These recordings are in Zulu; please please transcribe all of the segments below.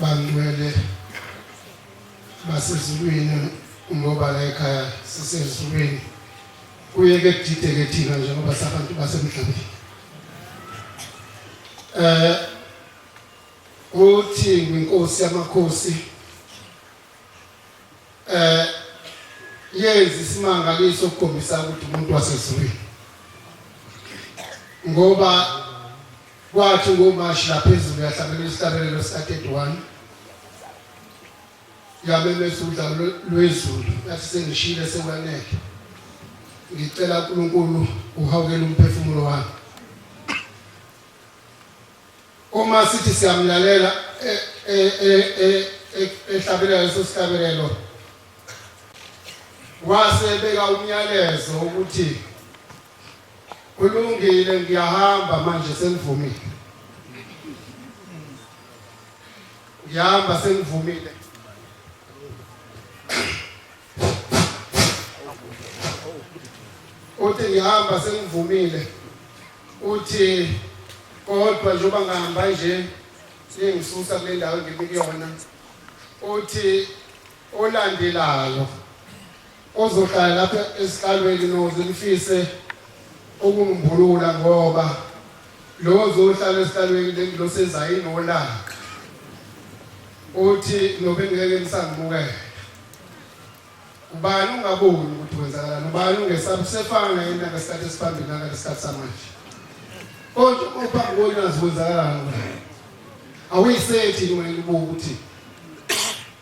Bangcwele basezulwini ngoba la ekhaya sisezulwini kuye ke kudideke thina njengoba sabantu basemhlabeni eh uthi inkosi yamakhosi eh yenza isimangaliso ukukhombisa ukuthi umuntu wasezulwini ngoba Kwathi ngoMashi lapha ezulu yahlabela isihlabelelo sika-31 yamemeza udlame lwe- lwezulu yathi sengishile sekwanele ngicela unkulunkulu uhawukele umphefumulo wami uma sithi siyamlalela e- e- e- e- e- ehlabelela leso sihlabelelo wasebeka umyalezo ukuthi Kulungile ngiyahamba manje sengivumile. Ngiyahamba sengivumile. Uthi ngihamba sengivumile. Uthi kodwa njengoba ngihamba nje sengisusa kule ndawo engimikuyona. Uthi olandelayo Ozohlala lapha esihlalweni noze nifise ukungimbulula ngoba lo ozohlala esihlalweni lengilosi ezayo inolaka uthi nobe ngeke nisangibukele ubani ungaboni ukuthi kwenzakalani ubani ungesaba usefana naye intanga esikhathi esiphambili nakalesikhathi samanje kodwa uma uphambi konazi kwenzakalani awuyisethi wena ubuka ukuthi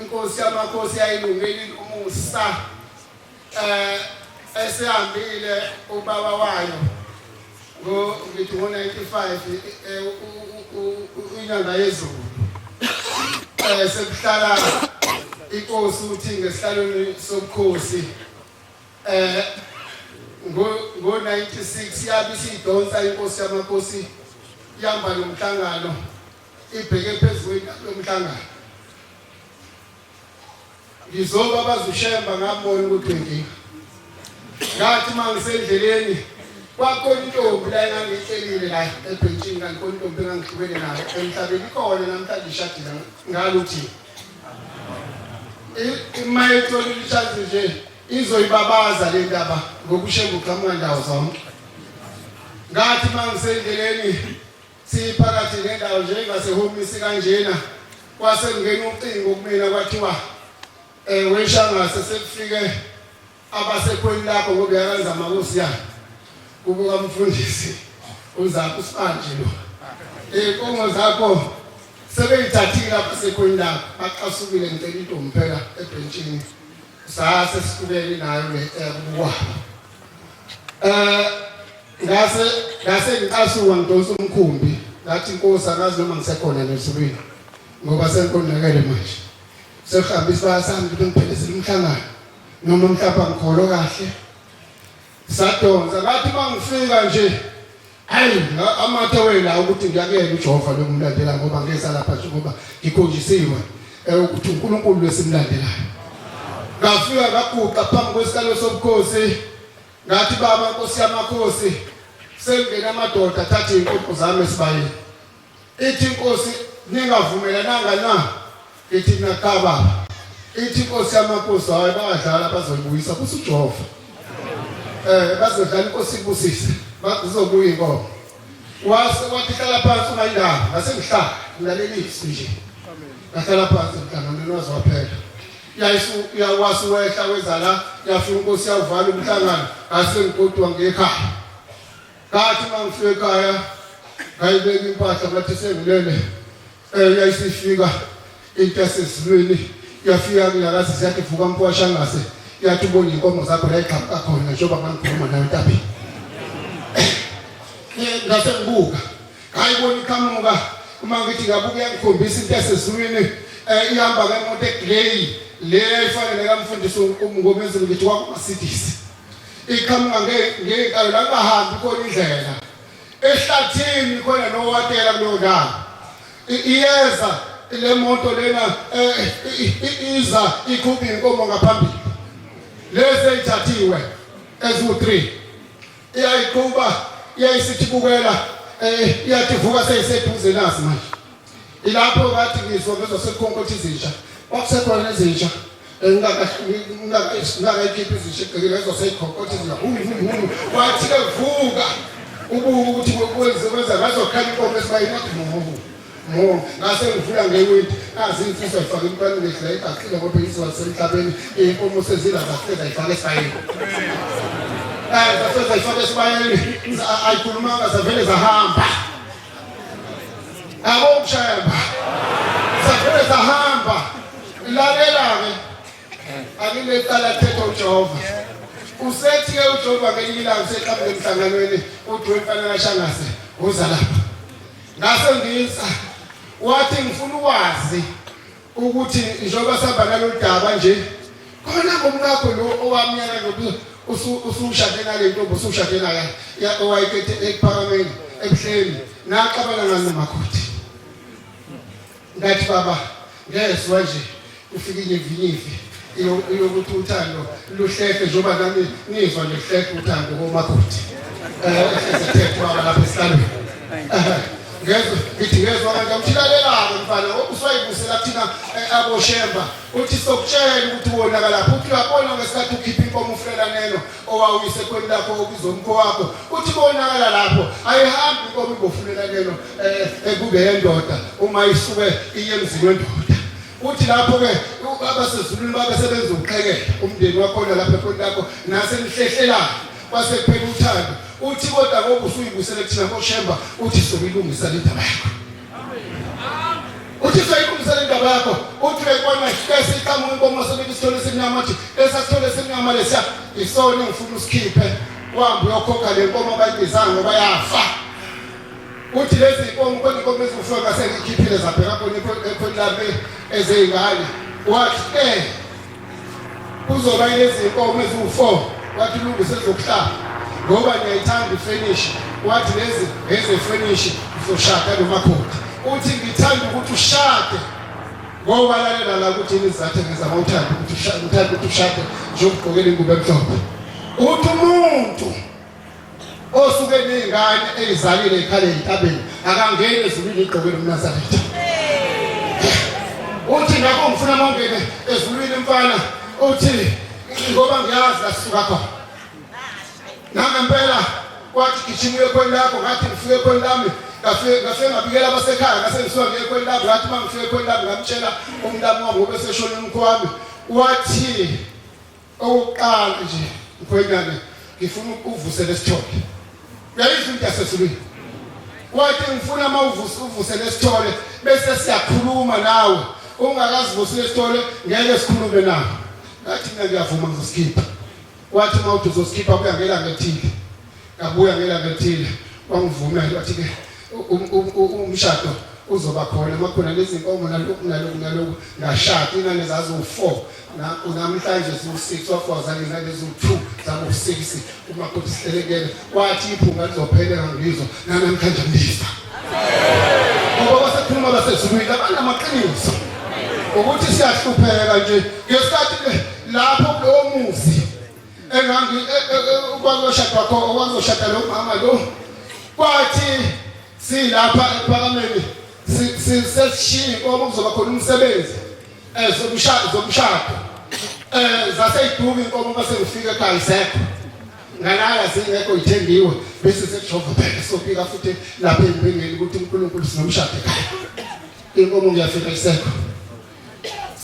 Inkosi yamakhosi yayilungile umusa eh esihambile ubaba wayo ngo ngithi ngo 95 eh, inyanga yezulu eh sekuhlala inkosi uthi ngesihlalweni sobukhosi eh ngo 96 yabe isidonsa inkosi yamakhosi yamba lomhlangano ibheke phezu kwendaba yomhlangano ngizoba bazushemba ngabona ukuthi ngiya ngathi uma ngisendleleni kwakontombi la engangihlelile la ebhentshini kanti kontombi engangihlukene nayo emhlabeni ikhona namhlanje ishadile ngaluthi uma ethola ilishazi nje izoyibabaza le ndaba ngokushemba uqhamuka ndawo zonke ngathi uma ngisendleleni Siphakathi nendawo nje ingasehomisi kanjena kwase kungena ucingo kumina kwathiwa eh weshangase sekufike abasekhweni lapho ngoba yakanza amakosi yakhe kubuka umfundisi uzakho sibanje lo inkongo eh, zakho sebeyithathile lapha sekhweni lapho baqasukile ngicela intombi phela ebhentshini sase sifukele nayo le eh, kubukwa eh ngase ngase ngicasuka ngidonsa umkhumbi ngathi inkosi akazi noma ngisekhona nezulwini ngoba senkonakele manje sekuhamba isibaya sami ukuthi ngiphelezile umhlangano noma mhlawumbe angikholo kahle sadonsa ngathi uma ngifika nje hayi amathe wena ukuthi ngiyakuyela ujehova lomlandela ngoba ngeza lapha nje ngoba ngikhonjisiwe eh, ukuthi unkulunkulu lwesimlandelayo ngafika ngaguqa phambi kwesikalo sobukhosi Ngathi baba nkosi yamakhosi sengena amadoda thatha inkukhu zami esibayeni. Ithi inkosi ningavumelananga na? Ithi nakaba. Ithi inkosi yamakhosi hayi bayadlala bazolibuyisa kuthi uJehova. Eh bazodlala inkosi ibusise bazobuya inkomo. Wase wathi hlala phansi ungayindaba ngasengihlala ngilalelisi nje. Amen. Ngahlala phansi mntana nonozwaphela. yayisu yawasi wehla wezala yafika inkosi yawuvala umhlangano ngase ngigodwa ngekhaya ngathi uma ngifika ekhaya ngayibeka impahla ngathi sengilele um yayisifika into yasezulwini yafika kulakazi ziyathi vuka mkwasha ngase yathi ubona iy'nkomo zakho yayigxamuka khona njengoba ngangikhuluma nayo entabeni ngase ngibuka Hayi bona iqhamuka uma ngithi ngabuke yangikhombisa into esezulwini eh ihamba ke imoto egrey le efanele kamfundisi uMngomezulu ngithi wakumasidisi. Iqhamuka nge ngekalo la kungahambi khona indlela. Ehlathini khona nowatela kuleyo ndawo. I- Iyeza le moto lena eh, i- i- iza ikhupha inkomo ngaphambili. Lezi ezithathiwe eziwu 3 iyayiqhuba iyayisithi bukela eh iyathi vuka seyiseduze nazi manje ilapho ngathi ngizwa ngezwa sekukhonkotha izinja kwakusekhona izinja ngingakayikhiphi izinja egcekeni ngezwa seyikhonkotha izinja wathi-ke vuka ubuke ukuthi kwenze kwenza ngazokhanya inkomo esibayinodimohoho Mo, ngase ngivula ngewindi kazi imfisa ifake imntwana ngedla igaqile kodwa iziwa semhlabeni inkomo sezila zafeza ifake esayini eh zafeza ifake esibayeni ayikhulumanga zavele zahamba yabo mshemba zafele zahamba lalela-ke anginecala thetha ujehova usethi-ke ujehova ngelinye ilanga useqhamuke emhlanganweni udwe mfana kashangase uza lapha ngase ngiza wathi ngifuna ukwazi ukuthi njengoba sihamba nalolu daba nje khona ngomkakho lo owamnyana nobuso usushade nale ntombi usushade naye owayekethe ekuphakameni ebuhleni naxabana ngani nomakoti Ngathi baba ngezwa nje kufika inyivinyivi ilokuthi uthando luhlehle njengoba nami ngizwa luhlehle uthando komakoti um eh, ehlezethethwa lapha esihlalweni eh, ngezwe ngithi ngezwa kanti amthilalelako mfana uswayibusela kuthina eh, aboshemba uthi sokutshela ukuthi wonaka lapho uthi uyabona ngesikhathi ukhipha inkomo ufulelaneno owawuyisekhweni lakho obizwa umkhowakho uthi bonakala lapho ayihambi inkomo ibofunela keno eh, ekube yendoda uma isuke iye emzini wendoda uthi lapho-ke abasezulwini babe sebenza ukuqhekela umndeni wakhona lapho ekhoni lakho nasenihlehlelanyo kwase kuphela uthando uthi kodwa ngoba usuyibusele kuthina koshemba uthi sokuyilungisa le ndaba yakho uJesu ayiqinisa le ndaba yakho uthi bekwana hlese iqhamuka inkomo wasobeka isithole esimnyama athi esasithole esimnyama lesiya isona engifuna usikhiphe uhambe uyokhokha le nkomo abayibizanga ngoba yafa uthi lezi nkomo khona inkomo eziwufuyo ngasengikhiphile zabheka khona ekhoni lami ezeyingane wathi eh kuzoba ilezinkomo eziwu-4 wathi lungise zokuhlaba ngoba ngiyayithanda ifenishi wathi lezi ezefenishi uzoshada nomakoti uthi ngithanda ukuthi ushade ngoba lalela la ukuthi yini izathe ngizama uthanda ukuthi uthanda ukuthi ushade njengokugqokela ingubo emhlophe uthi umuntu osuke ney'ngane ey'zalile ekhale entabeni akangeni ezulwini igqoke lomnazaretha uthi ngakho ngifuna mongene ezulwini mfana uthi ngoba ngiyazi lasisuka khona nangempela kwathi gijima uye khweni lakho ngathi ngifike khweni lami ngafike ngabikela abasekhaya ngase ngisuka ngiye khweni lami ngathi uma ngifike khweni lami ngamtshela umntami wami obeseshona umkhwami wathi Okokuqala nje mkhwenyana ngifuna ukuvuse lesithole. Uyayizwa into yasesulwini. Wathi ngifuna uma uvuse uvuse lesithole bese siyakhuluma nawe. Ungakazivusi lesithole ngeke sikhulume nawe. Ngathi mina ngiyavuma ngizosikhipha. Wathi uma uthi uzosikhipha kuyangela ngethile. Ngabuya ngelanga elithile wangivumela wathi-ke um, um, um, umshado uzoba khona uma khona nezinkomo naloku naloku naloku ngashada ingane zaziwu-four namhlanje ziwu-six wafoza ngezane ziwu-two zaku-six umakoti sihlelekele wathi iphunga lizopheleka ngizwa nanamhlanje ngiza ngoba basekhuluma basezulwini abanamaqiniso ukuthi siyahlupheka nje ngesikhathi lapho kulowo muzi engangi e, e, e, kwazoshada kho okwazoshada lo mama lo kwathi silapha ephakameni sisesishini ngoba kuzoba khona umsebenzi eh zokushada zokushada eh zaseyiduka inkomo base ngifika ekhaya isekho ngalala singekho ithengiwe bese sekujova phela sopika futhi lapha empingeni ukuthi uNkulunkulu sinomshado ekhaya inkomo ngiyafika isekho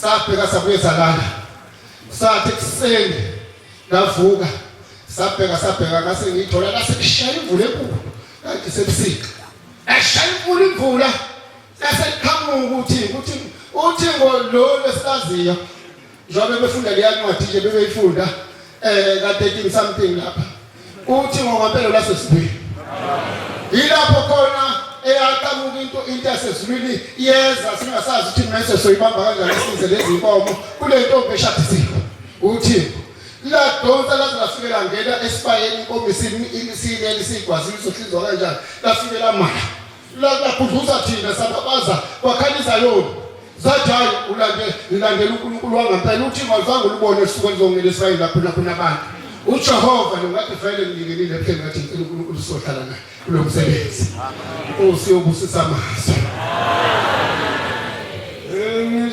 sabheka sabuye salala sathi ekuseni ngavuka sabheka sabheka ngase ngithola ngase kushaya imvula enkulu kanti sebusika eshaya imvula imvula eseqhamuka ukuthi ukuthi uthi ngolo lesisaziyo njengoba befunda leya ncwadi nje bebeyifunda eh ka 13 something lapha Uthi ngokwempela lwasesibili. Yilapho khona eyaqhamuka into into yasezulwini iyeza singasazi ukuthi mese soyibamba kanjani isize lezi inkomo kule ntombi eshadisiwe. Uthi ladonsa laze lafike langena esibayeni inkomo isini imisini elisigwazini sohlinzwa kanjani lafike lamala Lakudluza thina sababaza kwakhanisa yona. Zajayi ulande ilandela uNkulunkulu wangempela uthi mazange ulubone usuku elizongena Israyeli lapho lapho nabantu. UJehova lo ngathi vele ngilingenile phela ngathi ngicela uNkulunkulu sohlala naye kulo msebenzi. Usiyo busisa amazwi. Amen.